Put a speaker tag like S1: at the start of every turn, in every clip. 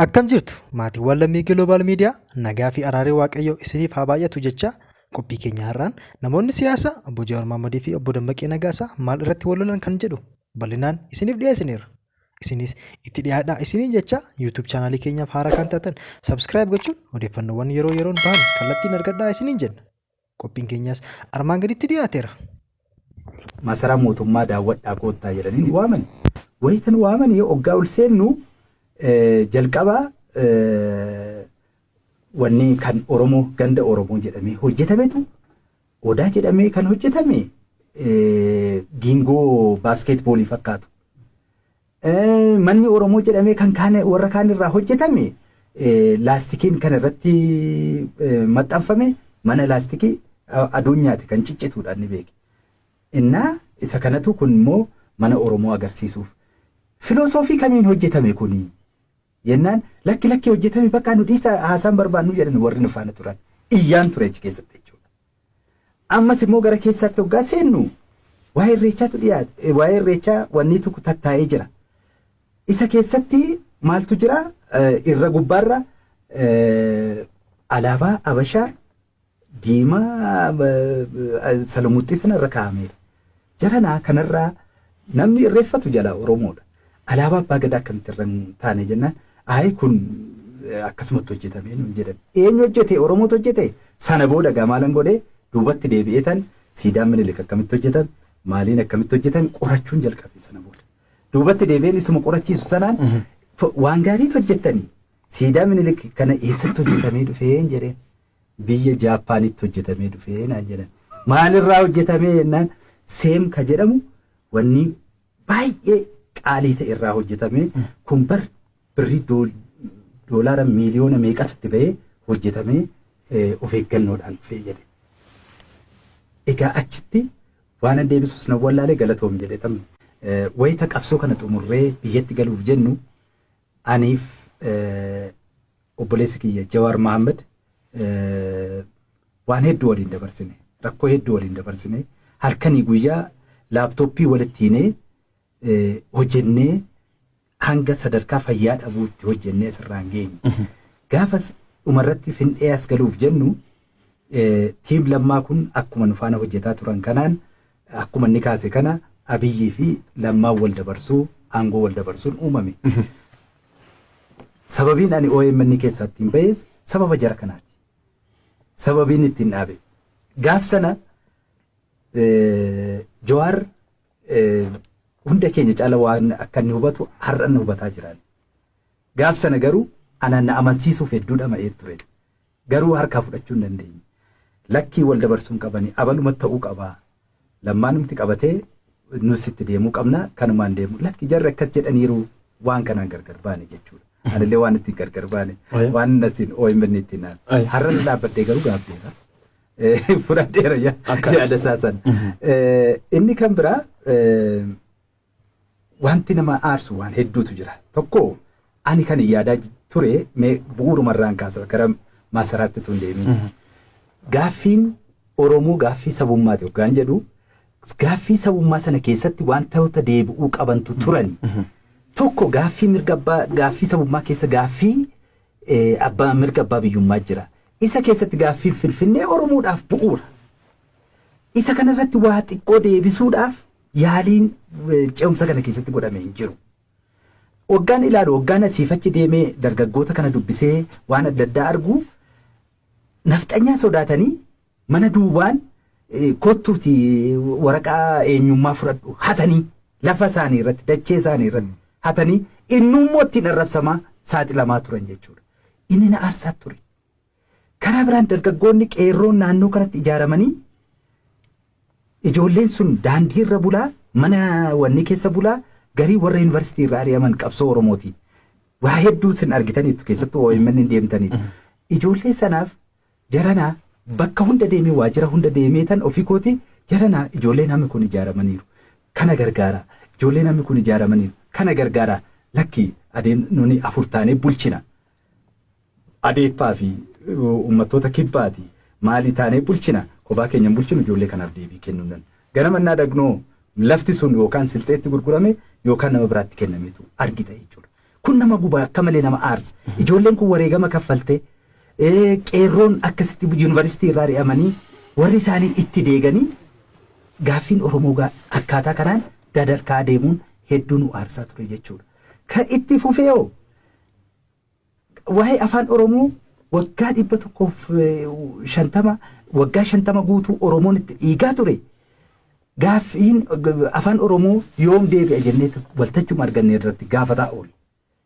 S1: Akkam jirtu maatiiwwan lammii Global Media nagaa fi araarri Waaqayyoo isiniif haa baay'atu jecha qophii keenya har'aan namoonni siyaasa obbo Jawaar Mohammadii fi obbo Dammaqee Nagaasaa maal irratti wal lolan kan jedhu bal'inaan isiniif dhiyeessineerra. Isinis itti dhiyaadhaa isiniin jecha YouTube chaanaalii keenyaaf haaraa kan taatan subscribe gochuun odeeffannoowwan yeroo yeroon bahan kallattiin argadhaa isiniin jenna. Qophiin keenyaas armaan gaditti dhiyaateera.
S2: Masaraa mootummaa daawwadhaa koottaa jedhanii nu waamani. Wayita nu waamanii oggaa ol seennu jalqaba wanni kan Oromoo ganda Oromoo jedhamee hojjetametu odaa jedhamee kan hojjetame giingoo baaskeetboolii fakkaatu. Manni Oromoo jedhamee kan kaan warra kaan irraa hojjetame laastikiin kan irratti maxxanfame mana laastikii aduun nyaate kan ciccituudhaan ni beeki. Innaa isa kanatu kun immoo mana Oromoo agarsiisuuf. Filosoofii kamiin hojjetame kuni? Jennaan lakki lakki hojjetame bakka nu dhiisa haasaan barbaannu jedhan warri nu faana turan. Iyyaan ture achi keessatti jechuudha. Ammas immoo gara keessaatti hoggaa seennu waa'ee irreechaatu dhiyaate waa'ee irreechaa wanni tokko tattaa'ee jira. Isa keessatti maaltu jira irra gubbaarra alaabaa Abashaa diimaa salamuxxii sana irra kaa'ameera. Jaranaa kanarraa namni irreeffatu jalaa Oromoodha. Alaabaa abbaa gadaa akkamitti irra hin taane jennaan ayi kun akkasumatti hojjetamee nuun jedhan. Eenyu hojjete Oromootu hojjete sana booda gamaalan godhee duubatti deebi'ee tan siidaan minilik akkamitti hojjetame maaliin akkamitti hojjetame qorachuun jalqabe sana booda. Duubatti deebi'een isuma qorachiisu sanaan waan gaariitu hojjettanii Siidaa Minilik kana eessatti hojjetamee dhufeen jedheen. Biyya Jaappaanitti hojjetamee dhufee naan jedhan. Maalirraa hojjetamee jennaan seem ka jedhamu wanni baay'ee qaalii ta'e irraa hojjetamee kun bar birrii dool- doolaara miiliyoona meeqatu itti ba'ee hojjetamee eh, of eeggannoodhaan dhufee jedhe. Egaa achitti waan an deebisus nan wallaalee galatoom jedhe tamni. Eh, Wayita qabsoo kana xumurree biyyatti galuuf jennu Aniif obboleessi kiyya Jawaar Mahaammad waan hedduu waliin dabarsine. Rakkoo hedduu waliin dabarsine. Halkanii guyyaa laaptooppii walitti hinee hojjennee hanga sadarkaa fayyaa dhabuutti hojjennee asirraan geenye. Gaafas dhumarratti findhee as galuuf jennu tiim lammaa kun akkuma nufaana hojjetaa turan kanaan Akkuma inni kaase kana Abiyyii fi Lammaan wal dabarsuu, aangoo wal dabarsuun uumame. Sababiin ani omn keessaa ittiin bahes sababa jara kanaati. Sababiin ittiin dhaabe. Gaaf sana Jawaar hunda keenya caala waan akka inni hubatu har'a nu hubataa jiraan. Gaaf sana garuu anaan na amansiisuuf hedduu dhama'ee ture. Garuu harkaa fudhachuu hin dandeenye. Lakkii wal dabarsuu hin qabani. Abaluma ta'uu qaba. Lammaanumti qabatee nus itti deemuu qabna. Kanumaan deemu. Lakki jarri akkas jedhaniiru waan kanaan gargar baane jechuudha. Anillee waan ittiin gargar baane Aye. waan nasin OMN ittiin naan. Aye. Har'a irra dhaabbadhee garuu gaabbeera. Eh, Fudhadheera ya- Akka- yaada isaa sana. Eh, Inni kan biraa eh, Wanti nama aarsu waan hedduutu jira. Tokko ani kan yaadaa ture mee bu'uuruma irraan kaasa gara maasaraatti tun deemiin. Gaaffiin Oromoo gaaffii sabummaati hoggaan jedhu gaaffii sabummaa sana keessatti wantoota deebi'uu qabantu turan. Tokko gaaffii mirga abbaa gaaffii sabummaa keessa gaaffii abbaa mirga abbaa biyyummaa jira. Isa keessatti gaaffiin Finfinnee Oromoodhaaf bu'uura. Isa kanarratti waa xiqqoo deebisuudhaaf yaaliin ce'umsa kana keessatti godhame hin jiru. Waggaan ilaalu waggaan asiif achi deemee dargaggoota kana dubbisee waan adda addaa argu nafxanyaa sodaatanii mana duwwaan kottuuti waraqaa eenyummaa fudhadhu hatanii lafa isaanii irratti dachee isaanii irratti hatanii innummoo ittiin arrabsamaa saaxilamaa turan jechuudha. Inni na aarsaa ture. Karaa biraan dargaggoonni qeerroon naannoo kanatti ijaaramanii ijoolleen sun daandii irra bulaa mana wanni keessa bulaa garii warra yuunivarsiitii irra ari'aman qabsoo Oromooti. Waa hedduu sin argitaniitu keessattuu OMN hin deemtaniitu. Ijoollee sanaaf jaranaa bakka hunda deemee waajjira hunda deemee tan ofii kooti jaranaa ijoollee namni kun ijaaramaniiru. Kana gargaara. Ijoollee namni kun ijaaramaniiru. Kana gargaara. Lakki adeem nuni afur taanee bulchina. Adeeppaa fi ummattoota kibbaati maalii taanee bulchina kophaa keenya hin bulchinu ijoollee kanaaf deebii kennuu nan ganama innaa dhagnoo lafti sun yookaan silxeetti gurgurame yookaan nama biraatti kennametu argita jechuudha kun nama guba akka malee nama aarsa ijoolleen kun wareegama kaffalte qeerroon akkasitti yuunivarsiitii irraa ri'amanii warri isaanii itti deeganii gaaffiin Oromoo akkaataa kanaan dadarkaa deemuun hedduu nu aarsaa ture jechuudha. Ka itti fufeeoo Waa'ee afaan Oromoo waggaa dhibba tokkoof shantama waggaa shantama guutuu Oromoon itti dhiigaa ture gaaffiin afaan Oromoo yoom deebi'a jennee waltachuma arganne irratti gaafataa oole.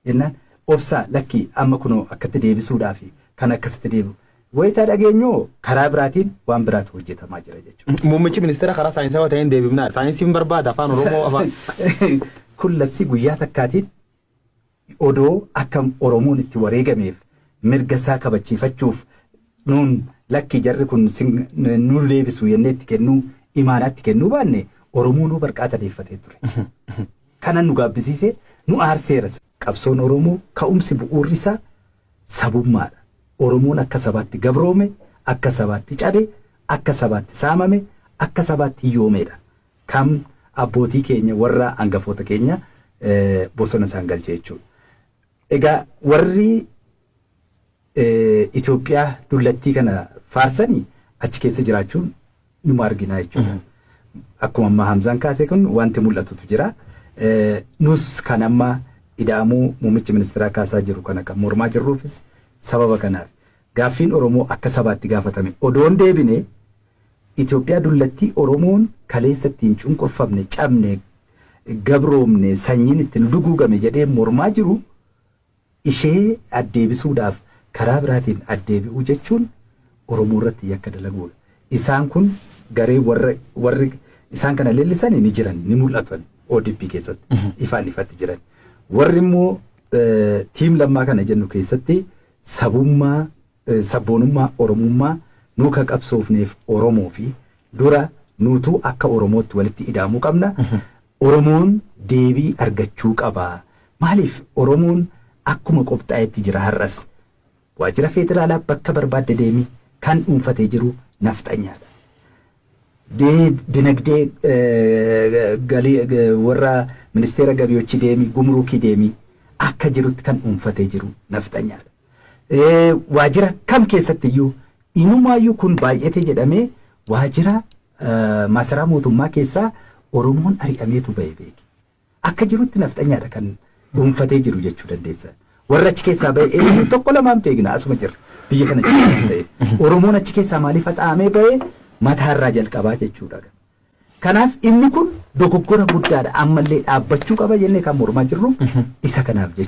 S2: Jennaan obsaa lakkii amma kunoo akkatti deebisuudhaa fi kan akkasitti deebi'u. Wayitaa dhageenyoo karaa biraatiin waan biraatu hojjetamaa jira jechuudha. Muummichi ministeera karaa
S3: saayinsaawaa ta'een deebifnaa saayinsiin barbaada afaan Oromoo afaan. Kun
S2: labsii guyyaa takkaatiin Odoo akka Oromoon itti wareegameef mirga isaa kabachiifachuuf nuun lakkii jarri kun nuun deebisu jennee itti kennuu imaanaa itti kennuu baanne Oromoonuu barqaa tadeeffatee ture. Kanan nu gaabbisiise nu aarseeras. Qabsoon Oromoo ka'umsi bu'uurri isaa sabummaadha. Oromoon akka sabaatti gabroome, akka sabaatti cabe, akka sabaatti saamame, akka sabaatti hiyyoomeedha. Kam abbootii keenya warra angafoota keenya bosona isaan galche jechuudha. Egaa warri Itoophiyaa dullattii kana faarsani achi keessa jiraachuun numa arginaa jechuudha. Akkuma ammaa Hamzaan kaasee kun wanti mul'atutu jira. Nus kan amma ida'amuu muummichi ministeeraa kaasaa jiru kana kan mormaa jirruufis sababa kanaaf. Gaaffiin Oromoo akka sabaatti gaafatame odoon deebine Itoophiyaa dullattii Oromoon kaleessa ittiin cunqurfamne, cabne, gabroomne, sanyiin itti nu duguugame jedhee mormaa jiru ishee addeebisuudhaaf karaa biraatiin addeebi'uu jechuun Oromoo irratti yakka dalaguudha. Isaan kun garee warra warri isaan kana leellisani ni jiran ni mul'atan ODP keessatti ifaan ifatti jiran. Warri immoo eh, tiim lammaa kana jennu keessatti sabummaa Sabboonummaa Oromummaa nuu ka qabsoofneef Oromoo fi dura nuutuu akka Oromootti walitti idaamuu qabna. Oromoon deebii argachuu qaba. Maaliif Oromoon akkuma qopxaa'etti jira har'as. Waajjira Feederaalaa bakka barbaadde deemi kan dhuunfatee jiru nafxanyaa dha. Dinagdee galii warra Ministeera Gabiyochi deemi, Gumuruukii deemi akka jirutti kan dhuunfatee jiru nafxanyaa dha. Ee, waajjira kam keessatti iyyuu, inumaa iyyuu kun baay'ate jedhamee waajjira eh, maasaraa mootummaa keessaa Oromoon ari'ameetu ba'e beeki. Akka jirutti nafxanyaadha kan dhuunfatee jiru jechuu dandeessa. Warra achi keessaa ba'e eenyu tokko lamaan beekna asuma jirra biyya kana jirra waan ta'eef. Oromoon achi keessaa maaliif haxaa'amee ba'e mataarraa jalqabaa jechuudha. Kanaaf inni kun dogoggora guddaadha ammallee dhaabbachuu qaba jennee kan mormaa jirru isa kanaaf jechuudha.